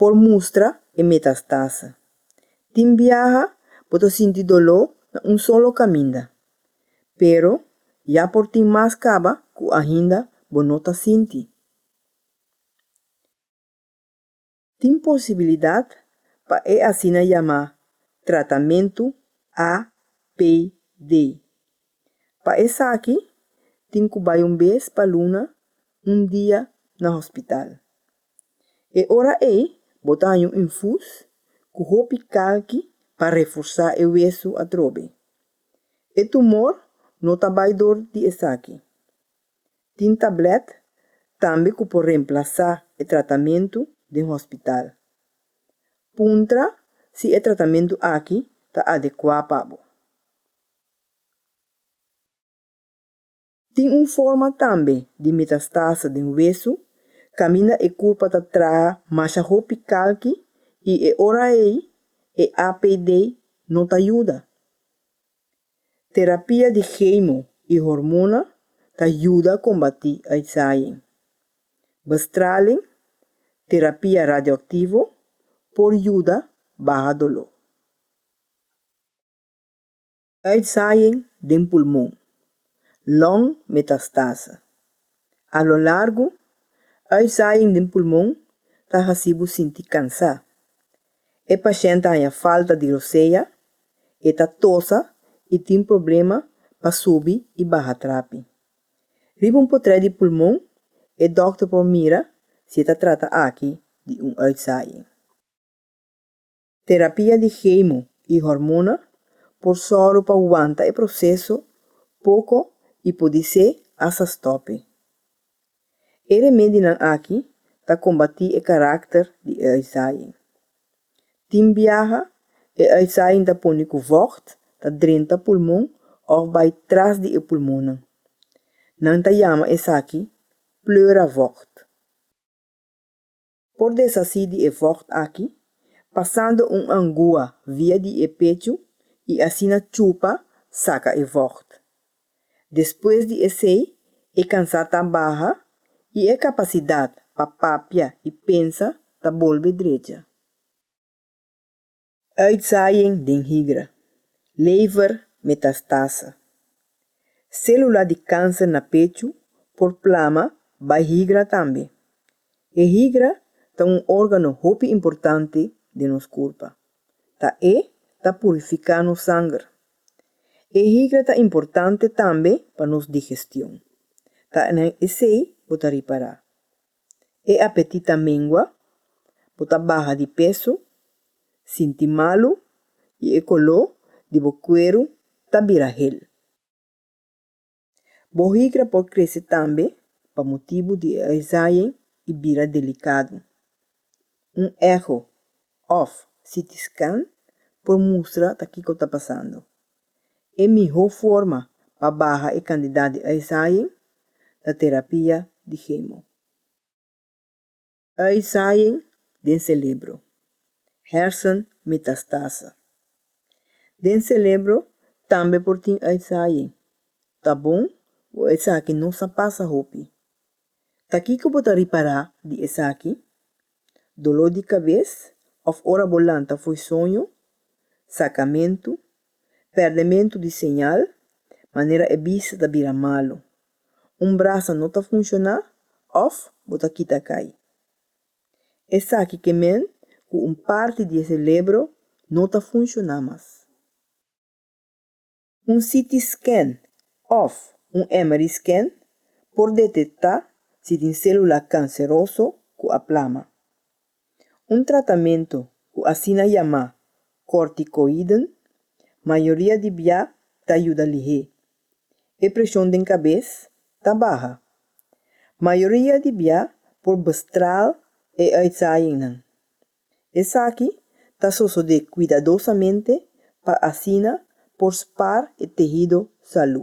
por mustra e metastase. Tin biaha bo ta sinti doló na un solo kaminda, pero ya por tin mas kaba ku ainda bo no ta sinti. Tin posibilidat pa e asina yamá tratamentu APD. Pa esaki tin ku bai un bes pa luna, un dia na hospital. E ora ei bo ta haña un infus ku hopi kalki pa reforsá e wesu atrobe. E tumor no ta bai dor di esaki. Tin tablèt tambe ku por remplasá e tratamentu den hospital. Puntra si e tratamentu aki ta adekuá pa bo. Tin un forma tambe di metastaase den wesu, kaminda e kulpa ta traha masha hopi kalki i e ora ei e APD no ta yuda. Terapia di chemo i hormona ta yuda kombatí uitzaaing. Bestraling, terapia radioaktivo, por yuda baha doló. Uitzaaiing den pulmon, long metastase. A lo largu, uitzaaiing den pulmon ta hasi bo sinti kansá. E pashènt haña falta di rosea, e ta tosa i tin problema pa subi i baha trapi. Riba un potrè di pulmon e dòkter por mira si e ta trata aki di un uitzaaiing. Terapia di kemo i hormona por sòru pa wanta e proseso poko i podisé asta stòpi. E remedinan aki ta kombatí e karakter di e uitzaaiing. Tin biaha e uitzaaiing ta pone ku vògt ta drenta pulmon òf bai tras di e pulmonnan. Nan ta yama esaki pleura vògt. Por deshací di e vògt aki pasando un angua via di e pechu i asina chupa saka e vògt. Despues di esei e kansá ta baha i e kapasidat pa papia i pensa ta bolbe drecha. Uitzaaien den higra, lever metastase. Sélula di kánser na pechu por plama bai higra tambe. E higra ta un órgano hopi importante den nos kurpa. Ta e ta purifiká nos sanger. E higra ta importante tambe pa nos digestion. Ta na esei bo ta ripará. E apetit ta mengua, bo ta baha di peso, sinti malu i e koló di bo kueru ta bira hel. Bo higra por krese tambe pa motibu di e aizayen i bira delikadu. Un eho òf CT scan por mustra ta kiko ta pasando. E mihó forma pa baha e kandidat di uitzaaiing ta terapia di hemo. Uitzaaiing den selebro, hersen metastase. Den selebro tambe por tin uitzaaiing. Ta bon bo esaki nos a pasa hopi. Ta kiko bo ta ripará di esaki? doló di kabes òf ora bo lanta fo'i soño, sakamentu, pèrdementu di señal, manera e bista ta bira malu, un brasa no ta funshoná òf bo ta kita kai. Esaki ke men ku un parti di e selebro no ta funshoná mas. Un CT scan òf un MRI scan por detektá si tin sélula kanseroso ku a plama. Un tratamentu ku asina yamá kòrtikoiden mayoria di bia ta yuda lihé e preshon den kabes ta baha. Mayoria di bia por bestraal e uitzaaiingnan, Esaki ta sosodé kuidadosamente pa asina por spar e tehido salú.